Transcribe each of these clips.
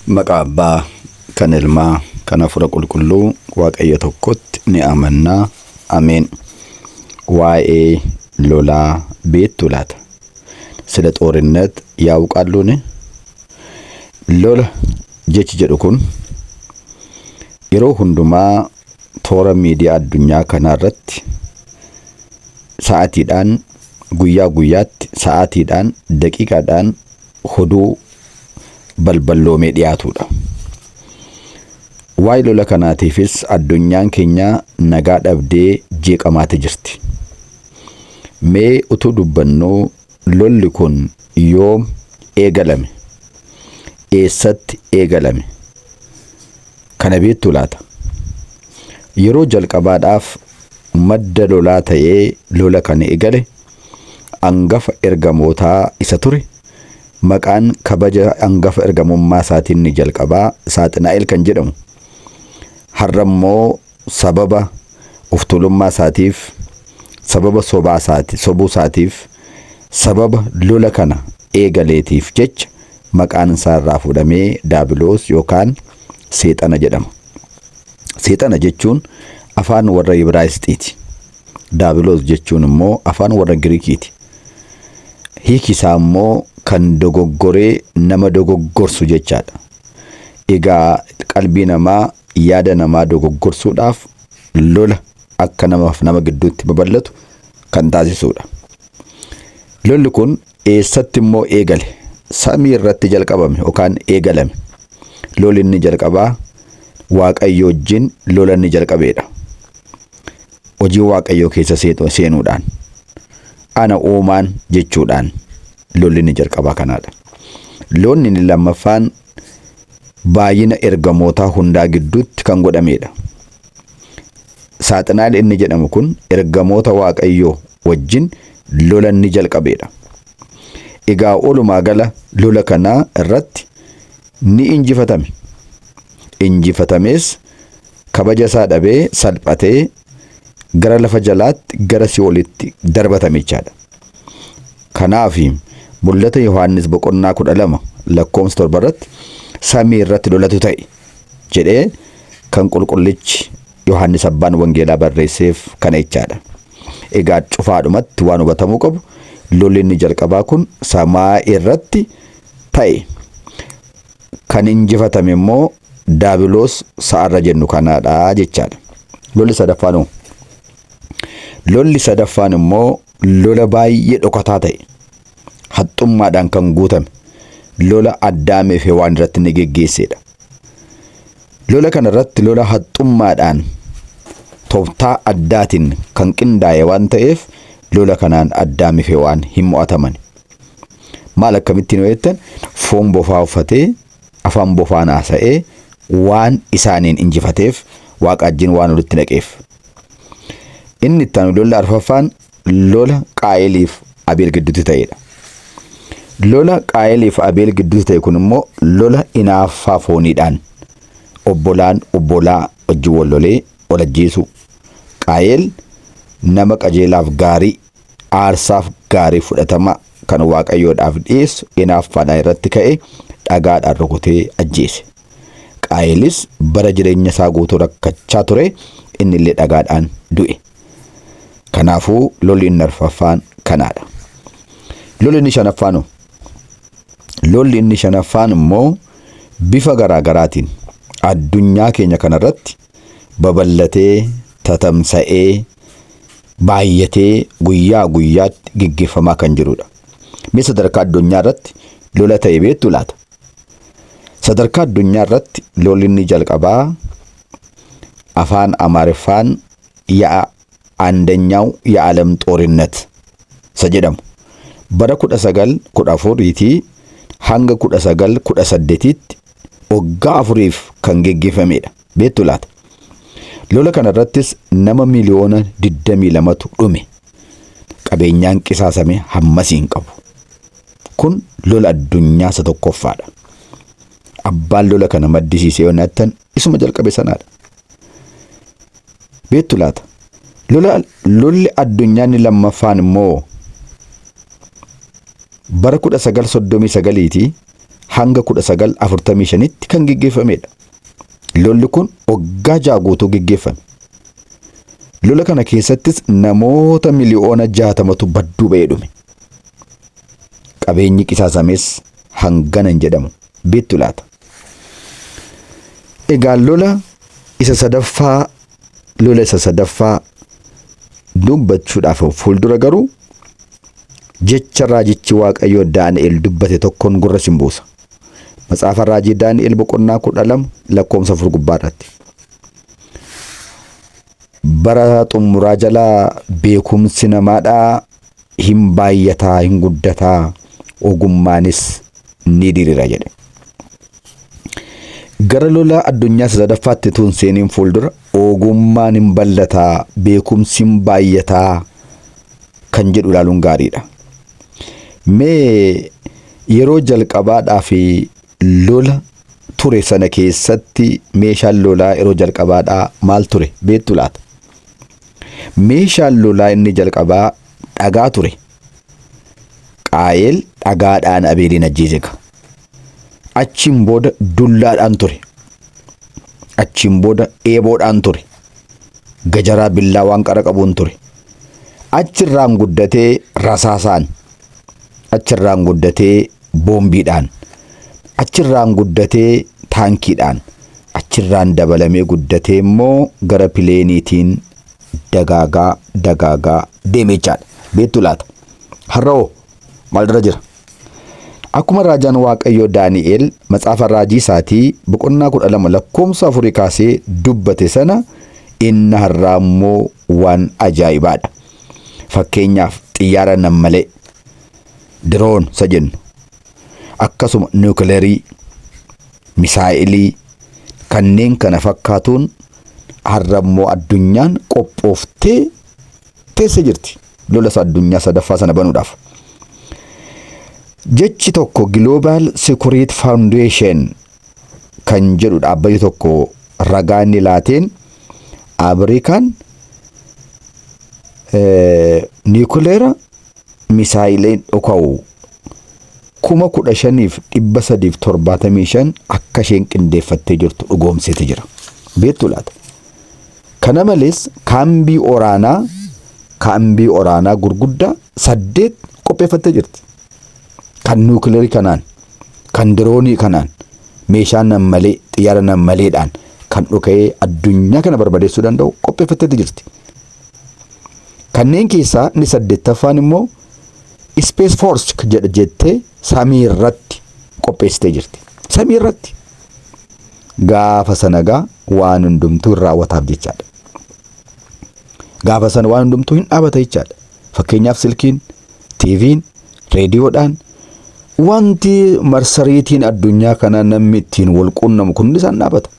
Maqaa Abbaa, kan Ilmaa, kan Hafuura Qulqulluu, Waaqayyo tokkotti ni amanna. Ameen. Waa'ee lolaa beektuu laata? Sila xoorinnet yaa'uqaalluuni? Lola jechi jedhu kun yeroo hundumaa toora miidiyaa addunyaa kanaa irratti sa'aatiidhaan, guyyaa guyyaatti, sa'aatiidhaan, daqiiqaadhaan hoduu balballoomee dhiyaatuudha. Waa'ee lola kanaatiifis addunyaan keenya nagaa dhabdee jeeqamaati jirti. Mee utuu dubbannuu lolli kun yoom eegalame? Eessatti eegalame? Kana beektuu laata? Yeroo jalqabaadhaaf madda lolaa ta'ee lola kan eegale angafa ergamootaa isa ture, maqaan kabaja angafa ergamummaa isaatiin inni jalqabaa Saaxinaa'el kan jedhamu, har'a immoo sababa of tuulummaa isaatiif, sababa sobaa isaati, sobuu isaatiif, sababa lola kana eegaleetiif jecha maqaan isaa irraa fuudhamee Daabiloos yookaan Seexana jedhama. Seexana jechuun afaan warra Ibraayisxiiti. Daabiloos jechuun immoo afaan warra Giriikiiti. Hiiki isaa immoo kan dogoggoree nama dogoggorsu jechaadha. Egaa qalbii namaa, yaada namaa dogoggorsuudhaaf lola akka namaaf nama gidduutti babal'atu kan taasisuudha. Lolli kun Eessatti immoo eegale? Samii irratti jalqabame yookaan eegalame. Loli inni jalqabaa Waaqayyo wajjin lola inni jalqabeedha. Hojii Waaqayyoo keessa seenuudhaan ana uumaan jechuudhaan lolli inni jalqabaa kanaadha. Lolli inni lammaffaan baay'ina ergamootaa hundaa gidduutti kan godhameedha. Saaxinaal inni jedhamu kun ergamoota Waaqayyoo wajjin lola inni jalqabeedha. Egaa walumaa gala lola kanaa irratti ni injifatame. Injifatamees kabaja isaa dhabee salphatee gara lafa jalaatti gara si'olitti darbatame jechaadha. Kanaaf mul'ata Yohaannis boqonnaa 12 lakkoofsa 7 irratti samii irratti lolatu ta'e jedhee kan qulqullichi Yohaannis abbaan wangeelaa barreesseef kana jechaadha. Egaa cufaadhumatti waan hubatamuu qabu lolli inni jalqabaa kun samaa irratti ta'e. Kan injifatame immoo daabiloos sa'arra jennu kanaadha jechaadha. Lolli sadaffaan hoo? Lolli sadaffaan immoo lola baay'ee dhokataa ta'e. Haxxummaadhaan kan guutame. Lola Addaamii fi Hewaan irratti inni geggeesseedha. Lola kana irratti lola haxxummaadhaan toftaa addaatiin kan qindaa'e waan ta'eef lola kanaan addaami fi hewaan hin mo'ataman. Maal akkamittiin yoo jettan foon bofaa uffatee afaan bofaan haasa'ee waan isaaniin injifateef waaqaajjiin waan walitti naqeef. Inni itti aanu lolli arfaffaan lola Qaa'eliif Abeel gidduutti ta'edha. Lola Qaa'eliif Abeel gidduutti ta'e kun immoo lola inaaffaa fooniidhaan obbolaan obbolaa wajjin wal lolee wal ajjeesuu. Qaa'el nama qajeelaaf gaarii, aarsaaf gaarii fudhatamaa kan Waaqayyoodhaaf dhiyeessu inaaffaadhaan irratti ka'e dhagaadhaan rukutee ajjeese. Qaa'elis bara jireenya isaa guutuu rakkachaa ture, inni illee dhagaadhaan du'e. Kanaafuu lolli inni arfaffaan kanaadha. Lolli inni shanaffaan hoo? Lolli inni shanaffaan immoo bifa garaa garaatiin addunyaa keenya kanarratti babal'atee, tatamsa'ee, baay'atee guyyaa guyyaatti geggeeffamaa kan jirudha. Mee sadarkaa addunyaa irratti lola ta'e beektu laata? Sadarkaa addunyaa irratti lolli inni jalqabaa afaan Amaariffaan ya'a Andanyaw Ya'alam Xoorinnet isa jedhamu bara 1914 tii hanga 1918 tti waggaa afuriif kan geggeeffamee dha. Beektu laata? Lola kana irrattis nama miliyoona 22 tu dhume. Qabeenyaan qisaasame hammasii hin qabu. Kun lola addunyaa isa tokkoffaa dha. Abbaan lola kana maddisiise yoo nattan isuma jalqabe sanaadha. Beektu laata? Lola lolli addunyaa inni lammaffaan immoo bara 1939 ti hanga 1945tti kan geggeeffamedha. Lolli kun waggaa ja'a guutuu geggeeffame. Lola kana keessattis namoota miliyoona jaatamatu badduu ba'ee dhume. Qabeenyi qisaasames hangana hin jedhamu. Beektu laata? Egaa lola isa sadaffaa lola isa sadaffaa dubbachuudhaaf of fuuldura garuu jecha raajichi Waaqayyoo Daani'el dubbate tokkoon gurra sin buusa. Matsaafa raajii Daani'el boqonnaa kudha lama lakkoofsa afur gubbaa irratti. Bara xummuraa jala beekumsi namaadhaa hin baayyataa, hin guddataa, ogummaanis ni dirira jedhe. Gara lola addunyaa isa sadaffaatti tuun seeniin fuuldura ogummaan hin bal'ataa, beekumsi hin baayyataa kan jedhu ilaaluun gaariidha. Mee yeroo jalqabaadhaa fi Lola ture sana keessatti meeshaan lolaa yeroo jalqabaadhaa maal ture beektu laata? Meeshaan lolaa inni jalqabaa dhagaa ture. Qaayel dhagaadhaan Abeeliin ajjeese ka. Achiin booda dullaadhaan ture. Achiin booda eeboodhaan ture. gajaraa billaawaan qara qabuun ture. Achirraan guddatee rasaasaan, achirraan guddatee boombiidhaan, achirraan guddatee taankiidhaan, achirraan dabalamee guddatee immoo gara pileeniitiin dagaagaa dagaagaa deeme jechaadha. Beektu laata? Har'a hoo Maalirra jira? Akkuma raajaan Waaqayyoo Daani'el macaafa raajii isaatii boqonnaa 12 lakkoofsa 4 kaasee dubbate sana inni har'aa immoo waan ajaa'ibaadha. Fakkeenyaaf xiyyaara nammalee, diroon isa jennu, akkasuma niwukileerii, misaa'ilii kanneen kana fakkaatuun har'a immoo addunyaan qophooftee teesse jirti lola isa addunyaa sadaffaa sana banuudhaaf. Jechi tokko Global Security Foundation kan jedhu dhaabbati tokko ragaa inni laateen Ameerikaan niikuleera misaayileen dhoka'u kuma kudha shaniif dhibba sadiif torbaatamii shan akka isheen qindeeffattee jirtu dhugoomseeti jira. Beektu laata? Kana malees kaambii oraanaa kaambii oraanaa gurguddaa. saddeet qopheeffattee jirti. Kan nuukilarii kanaan, kan diroonii kanaan, meeshaa nammalee, xiyyaara nammaleedhaan kan dhuka'ee addunyaa kana barbadeessuu danda'u qopheeffatteeti jirti. Kanneen keessaa inni saddeettaffaan immoo Space Force jedha jettee samii irratti qopheessitee jirti. Samii irratti. Gaafa sana egaa waan hundumtuu hin raawwataaf jechaadha. Gaafa sana waan hundumtuu hin dhaabata jechaadha. Fakkeenyaaf silkiin, TV'n, reediyoodhaan wanti marsariitiin addunyaa kanaa namni ittiin wal quunnamu kun isaan dhaabata.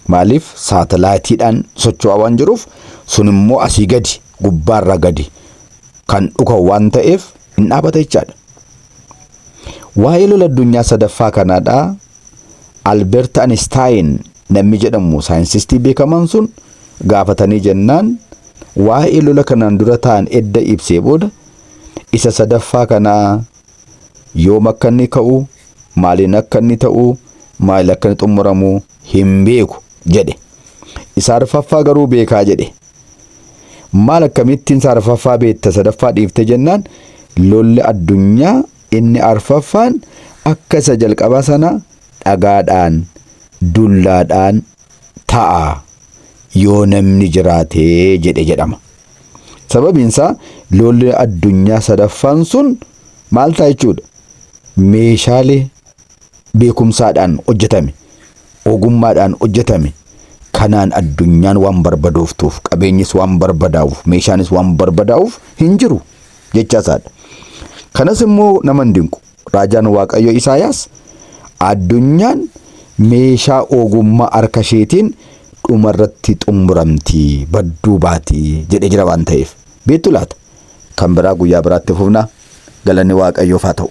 Maaliif saatalaayitiidhaan socho'aa waan jiruuf sun immoo asii gadi gubbaarraa gadi kan dhuka'u waan ta'eef hin dhaabata jechaadha. Waa'ee lola addunyaa sadaffaa kanaa dha Albert Anistaayin namni jedhamu saayinsistii beekamaan sun gaafatanii jennaan waa'ee lola kanaan dura ta'an edda ibsee booda isa sadaffaa kanaa yoom akka inni ka'u, maaliin akka inni ta'u, maal akka inni xumuramu, hin beeku jedhe. Isa arfaffaa garuu beekaa jedhe. Maal akkamittiin isa arfaffaa beekta sadaffaa dhiiftee jennaan lolli addunyaa inni arfaffaan akka isa jalqabaa sana dhagaadhaan dullaadhaan ta'a yoo namni jiraate jedhe jedhama. Sababiin isaa lolli addunyaa sadaffaan sun maal ta'a jechuudha? Meeshaalee beekumsaadhaan hojjetame, ogummaadhaan hojjetame kanaan addunyaan waan barbadooftuuf, qabeenyis waan barbadaa'uuf, meeshaanis waan barbadaa'uuf hin jiru jechaa isaadha. Kanas immoo nama hin dinqu. Raajaan Waaqayyo Isaayaas addunyaan meeshaa ogummaa harka isheetiin dhuma irratti xumuramti, badduu baati jedhee jira waan ta'eef. Beektu laata? Kan biraa guyyaa biraatti fufna. Galanni Waaqayyoof haa ta'u.